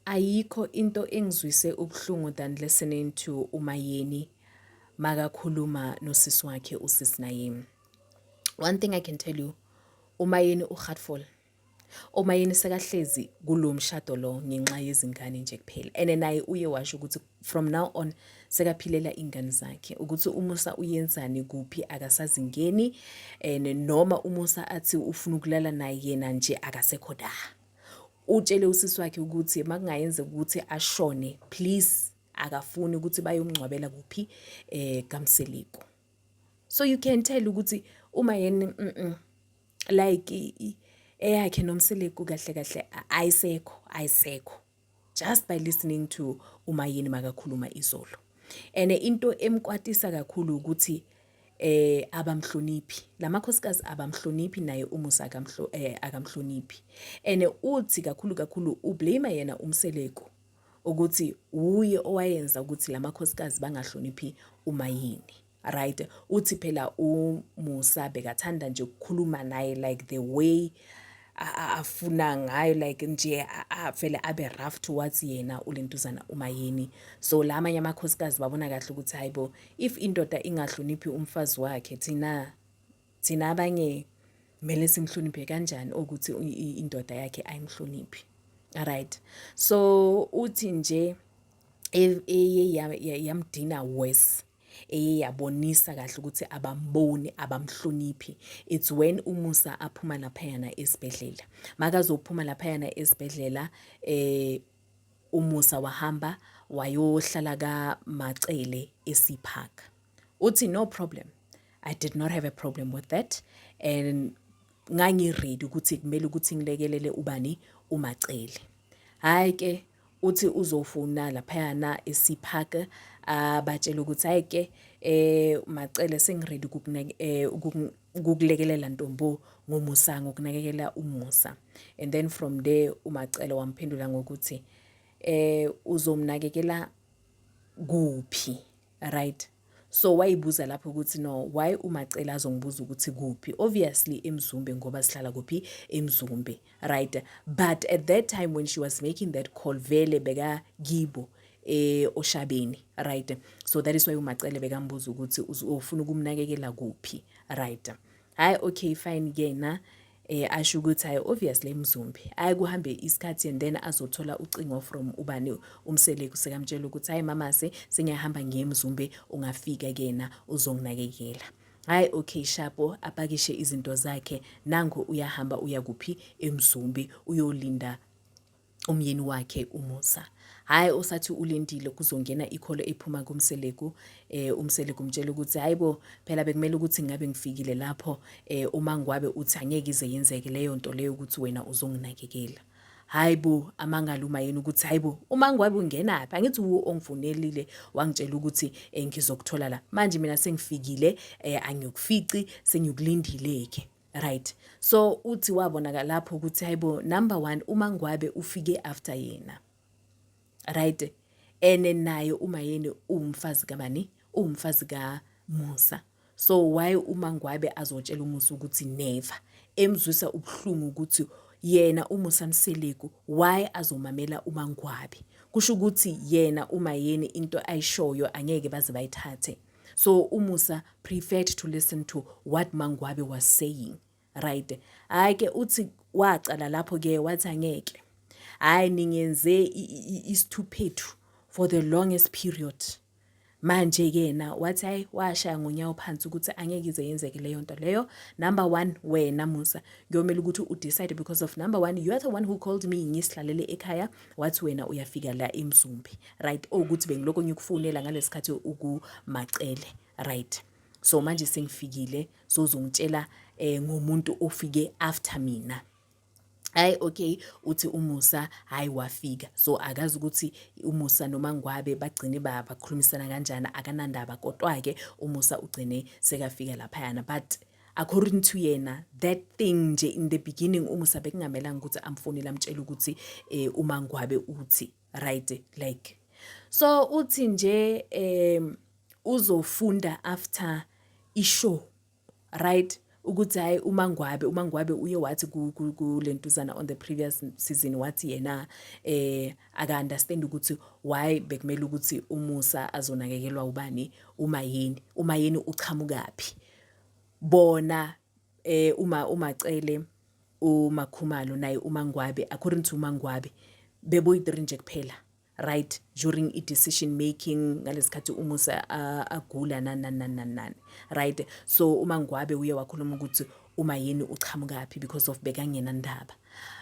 Ayikho into engizwise ubuhlungu than listening to uMayeni makakhuluma nosisi wakhe usis Nayim. One thing I can tell you, uMayeni uheartful. umayeni sekahlezi kulo mshado lo ngenxa yezingane nje kuphela and naye uye washo ukuthi from now on sekaphilela ingane zakhe ukuthi umusa uyenzani kuphi akasazingeni and noma umusa athi ufuna ukulala naye yena nje akasekho da utshele usisi wakhe ukuthi makungayenzeka ukuthi ashone please akafuni ukuthi bayomngcwabela kuphi eh kamseliko so you can tell ukuthi uma yena mm, mm, like eyakhe nomseliko kahle kahle ayisekho ayisekho just by listening to umayeni makakhuluma izolo and into emkwatisa kakhulu ukuthi eh abamhloniphi lamakhosikazi abamhloniphi naye umusa akamhlo eh, akamhloniphi and uthi kakhulu kakhulu ublame yena umseleko ukuthi uye owayenza ukuthi lamakhosikazi bangahloniphi umayini right uthi phela umusa bekathanda nje ukukhuluma naye like the way afuna ngayo like nje avele abe rough towards yena ulentuzana uma yini so la amanye amakhosikazi babona kahle ukuthi hayibo if indoda ingahloniphi umfazi wakhe thina thina abanye kumele simhloniphe kanjani ukuthi indoda yakhe ayimhloniphi right so uthi nje e, e, yamdina worse eye yabonisa kahle ukuthi abamboni abamhloniphi it's when umusa aphuma laphayana esibhedlela makazophuma laphayana esibhedlela eh umusa wahamba wayohlala ka Macele esiphaka uthi no problem i did not have a problem with that and ngangiready ukuthi kumele ukuthi ngilekelele ubani umacele hayi ke uthi uzofuna laphayana esipark abatshele ukuthi hayi ke eh macele sengiredi eh, ukukulekelela ntombo ngomusa ngokunakekela umusa and then from there umacele wamphendula ngokuthi eh uzomnakekela kuphi right So wayibuza lapho ukuthi no why uMacela azongibuza ukuthi kuphi obviously eMzumbe ngoba sihlala kuphi eMzumbe right but at that time when she was making that call vele beka kibo eh oshabeni right so that is why uMacele bekambuza ukuthi ufuna ukumnakekela kuphi right hayi okay fine kena eh asho ukuthi hayi obviously emzumbi hayi kuhambe isikhathi and then azothola ucingo from ubani umseleku sekamtshela ukuthi hayi mama se sengiyahamba ngiyemzumbe ungafika kena uzonginakekela hayi okay shapo apakishe izinto zakhe nango uyahamba uya kuphi emzumbi uyolinda umyeni wakhe uMusa. Hhayi osathi ulindile kuzongena ikholo ephuma kuMseleku eh uMseleku umtshela ukuthi hayibo phela bekumele ukuthi ngabe ngifikile lapho eh uma ngwabe uthi angeke ize yenzeke leyo nto leyo ukuthi wena uzonginakekela. Hayibo amangalo uma yena ukuthi hayibo uma ngwabe ungena phi angithi uwo ongifonelile wangitshela ukuthi eh, ngizokuthola la. Manje mina sengifikile eh angiyokufici sengiyokulindile ke. right so uthi wabonaka lapho ukuthi hayibo number 1 uma ngwabe ufike after yena right ene naye uma yeni umfazi kabani umfazi ka Musa so why uma ngwabe azotshela umusa ukuthi never emzwisa ubuhlungu ukuthi yena umusa mseleku why azomamela uma ngwabe kusho ukuthi yena uma yeni into ayishoyo angeke baze bayithathe so umusa preferred to listen to what mangwabe was saying right hayi ke uthi wacala lapho ke wathi angeke hayi ningenze isithuphethu for the longest period manje kena wathi hayi washaya ngonyawo phansi ukuthi angeke ize yenzeke leyo nto leyo number one wena musa kuyomele ukuthi udecide because of number one you are the one who called me ngisihlalele ekhaya wathi wena uyafika la emzumbi right okuthi bengilokho ngikufonela ngalesikhathi ukumacele right so manje sengifikile sozongitshela eh ngomuntu ofike after mina hayi okay uthi umusa hayi wafika so akazi ukuthi umusa noma ngwabe bagcine bakhulumisana kanjani akanandaba kodwa ke umusa ugcine sekafika lapha yana but according to yena that thing nje in the beginning umusa bekungamelanga ukuthi amfonele amtshela ukuthi eh uma ngwabe uthi right like so uthi nje eh uzofunda after ishow right ukuthi hayi umangwabe umangwabe uye wathi kulentuzana on the previous season wathi yena eh aka understand ukuthi why bekumele ukuthi umusa azonakekelwa ubani uma yini uma yini uchamukaphi bona eh uma umacele umakhumalo naye umangwabe according to umangwabe beboyi-3 nje kuphela right during i-decision making ngalesikhathi umusa agula nananananani right so uma ngwabe uye wakhuluma ukuthi uma yini uqhamukaphi because of bekangena ndaba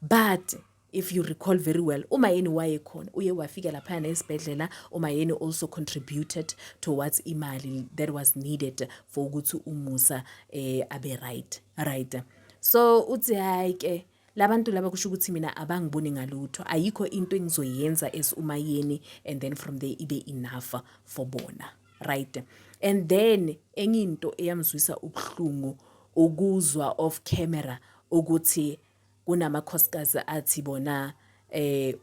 but if you recall very well umayeni wayekhona uye wafika laphayana esibhedlela umayeni also contributed towards imali that was needed for ukuthi umusa eh, abe right right so uthi hayi ke labantu laba kusho ukuthi mina abangiboni ngalutho ayikho into engizoyenza as umayeni and then from there ibe enough for bona right and then enye into eyamzwisa ubuhlungu ukuzwa off camera ukuthi Kunamakhosikazi athi bona eh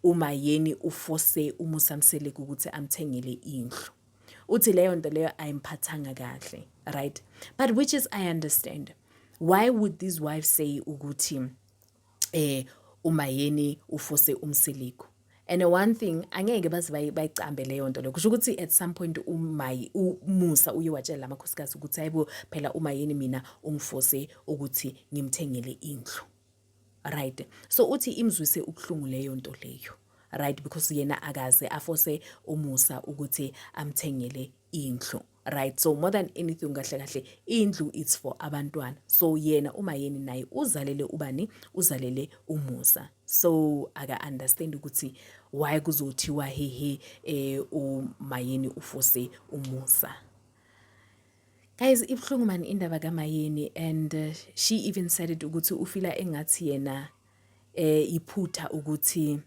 uMayeni ufose uMusa Mseleku ukuthi amthengele indlu. Uthi leyo nto leyo ayimphathanga kahle, right? But which is I understand. Why would these wives say ukuthi eh uMayeni ufose uMseleku? and one thing angeke baze bayicambe leyo nto leyo kusho ukuthi at some point umayi umusa uye watshela amakhosikazi ukuthi hayibo phela uma yini mina ungifose ukuthi ngimthengele indlu right so uthi imzwise ubuhlungu leyo nto leyo right because yena akaze afose umusa ukuthi amthengele indlu right so more than anything kahle kahle indlu it's for abantwana so yena umayeni naye uzalele ubani uzalele umusa so aka understand ukuthi why kuzothiwa hehe eh umayeni ufose umusa guys ibuhlungu mani indaba kamayeni and uh, she even said it ukuthi ufila engathi yena eh iphutha ukuthi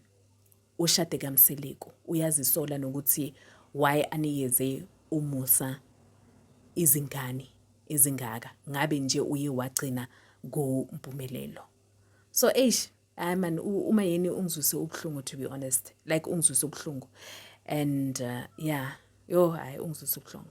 Ushade kaMseleku uyazisola nokuthi why anikeze uMusa izingane ezingaka ngabe nje uye wagcina kuMpumelelo so eish hayi man uma yini ungizwise ubuhlungu to be honest like ungizwise ubuhlungu and uh, yeah yo hayi ungizwise ubuhlungu